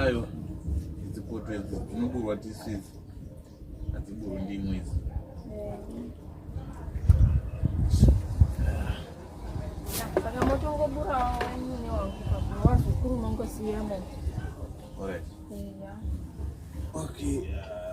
ayo dzikoto idzi dzinoburwa tisu idzi hadziburwi ndimwe idzi saka motongoburawo wenyine wangu wazukuru unongosiyamo okay uh,